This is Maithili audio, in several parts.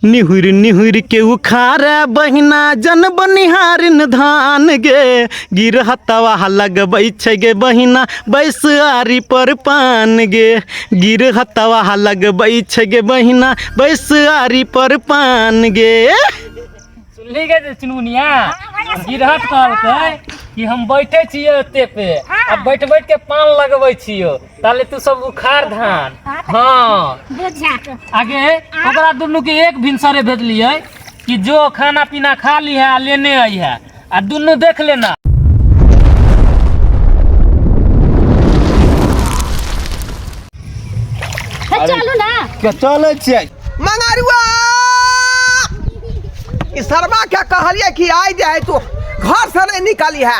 निहुर निहुर के उखार बहिना जन बनिहारिन धान गे गिरहतवा लगबै छै गे बहिना बैसारी पर पान गे गिरहतवा लगबै छै गे बहिना बैसारी पर पान गे सुनली गे जे चुनमुनिया गिरहत कहलकै कि हम बैठे छियै ओते पे आ बैठ बैठ के पान लगबै छियै ताले तू सब उखाड़ धान हाँ बुझा के आगे ओकरा दुनू के एक भिनसरे भेजलिए कि जो खाना पीना खा ली है आ लेने आई है आ दुनू देख लेना हे, चलू ना के चले छियै मंगरुआ ई शर्मा के कहलिए कि आइ जाए तू घर से नहीं निकली है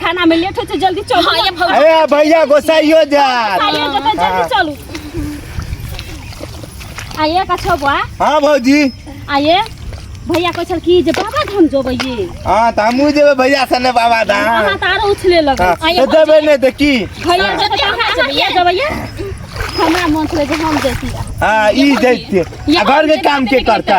खाना में लेट हो छै जल्दी चलू हां ये भौजी अरे भैया गोसाइयो जा खाइयो जतै जल्दी चलू आइए का छौ बुआ हां भौजी आइए भैया कहै छल कि जे बाबा धाम जेबै ये हां त हमहु जेबै भैया सने बाबा धाम अहाँ त आरो उछले लगै आइए जेबै नै त की भैया जतै कहाँ जेबै ये जेबै ये हमरा मन छलै जे हम जैती हां ई जैती घर के काम के करता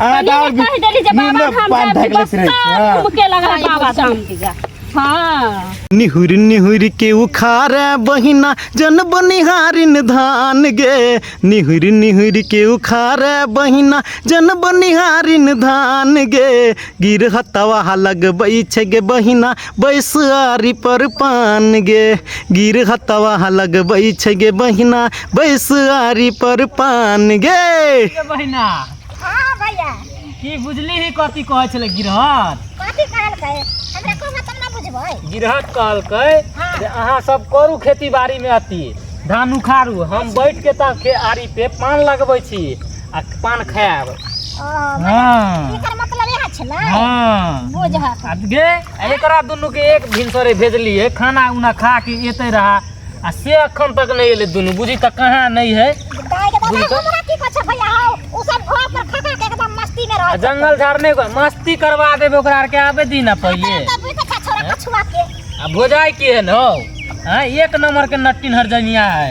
आ दाल भी कह देली जे बाबा नीमन धाम पान जाए ढकले बस से रही सब हां घूम के लगा बाबा धाम के जा हाँ निहुर निहुर के उखार बहिना जन बनिहारिन धान गे निहुर निहुर के उखार बहिना जन बनिहारिन धान गे गिरहतवा लगबै छै गे बहिना बैसआरी पर पान गे गिर हतवा लगबै छै गे बहिना बैसआरी पर पान गे के बहिना हाँ भैया की बुझली ही कथी कहै छलै गिरहत कथी कहलकै हमरा को मतलब ना बुझबै गिरहत कहलकै हाँ। जे अहाँ सब करू खेती बाड़ी में अति धान उखाड़ू हम बैठ के ता के आरी पे पान लगबै छी आ पान खायब ओ हाँ। एकर मतलब इहे छै ने हाँ बुझहक आ गे एकरा दुनू के एक भिनसरे भेजलिए खाना उना खा के एते रहा आ से अखन तक नहीं एले दुनू बुझी तक कहाँ नहीं है दाइ के बुझि दादा तऽ- हमरा की कछ भैया हौ उ सब घर पर खा खा के एकदम मस्ती में आ रहै जंगल झाड़ नहीं हुआ मस्ती करवा देबे ओकरा आर के आबे दी ना पहिले तब भी कछ छोरा कछुआ के आ भोजाई के है न हौ हाँ एक नंबर के नट्टी हर जनिया है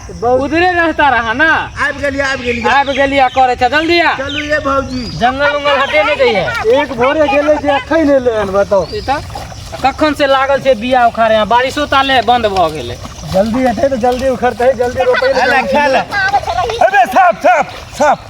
उधरे रहता रहा ना आबि गेलियै आबि गेलियै आबि गेलियै करे छ जल्दी आ चलू ये भौजी जंगल उंगल हटे नहीं दैए एक भोरे गेले जे अखन एलै हन बताउ ई तऽ कखन से लागल छै बिया उखाड़े यहाँ बारिशो ताले बंद भऽ गेलै जल्दी हेतै तऽ जल्दी उखड़तै जल्दी रोपै ले अबे साफ साफ साफ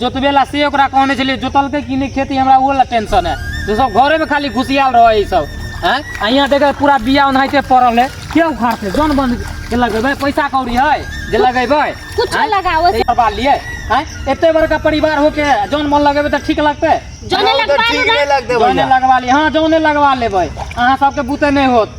जोतबे ला से ओकरा कहने छलियै जोतलकै कि नहि खेती हमरा ओहो ला टेंशन है जे सब घरेमे खाली घुसियाल रहै ई सब हैं आ यहाँ देखे पूरा बिया ओनाहिते पड़ल है के उखाड़तै जन बन के लगेबै पैसा कौड़ी है जे लगेबै कुछो हैं? लगाओ। तऽ ई करबा लिए हैं एते बड़का परिवार होके जन मन लगेबै तऽ ठीक लगतै जने लगवा ठीक नहि लगतै जौने भैया लगवा लिए हाँ जौने लगवा लेबै अहाँ सबके बुते नहि होत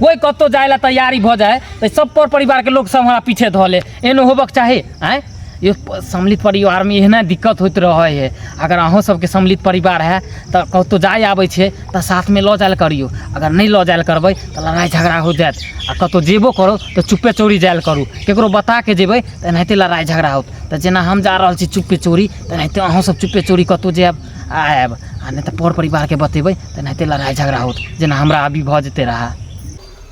कोई कतौ जाय ला तैयारी भ जाए तो सब पर परिवार के लोग सब हमारा पीछे धो ले एनो होबक चाहे आए यो प- सम्मिलित परिवार में एहना दिक्कत होइत रहे है अगर अहों सबके सम्मिलित परिवार है तो कतौ जाय आबै छै तो साथ में लऽ जायल करियो अगर नहीं लऽ जायल करबै तो लड़ाई झगड़ा हो जायत आ कतौ जेबो करो तो चुपे चोरी जायल करू केकरो बता के जेबै तो एनाहिते लड़ाई झगड़ा होत तो जेना हम जा रहल छी चुपे चोरी तो एनाहिते अहों सब चुपे चोरी कतौ जायब आयब आ नहि तऽ पर परिवारके बतेबै तऽ एनाहिते लड़ाइ झगड़ा होत जेना हमरा अभी भऽ जेतै रहए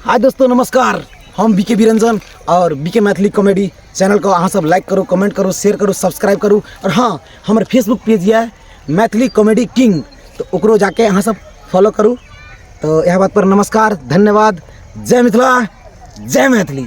हाय दोस्तों नमस्कार हम बीके बिरंजन और बीके मैथिली कॉमेडी चैनल को अहाँ सब लाइक करू कमेंट करू शेयर करू सब्सक्राइब करू और हाँ हमर फेसबुक पेज यऽ मैथिली कॉमेडी किंग तो ओकरो जाके अहाँ सब फॉलो करू तो यह बात पर नमस्कार धन्यवाद जय मिथिला जय मैथिली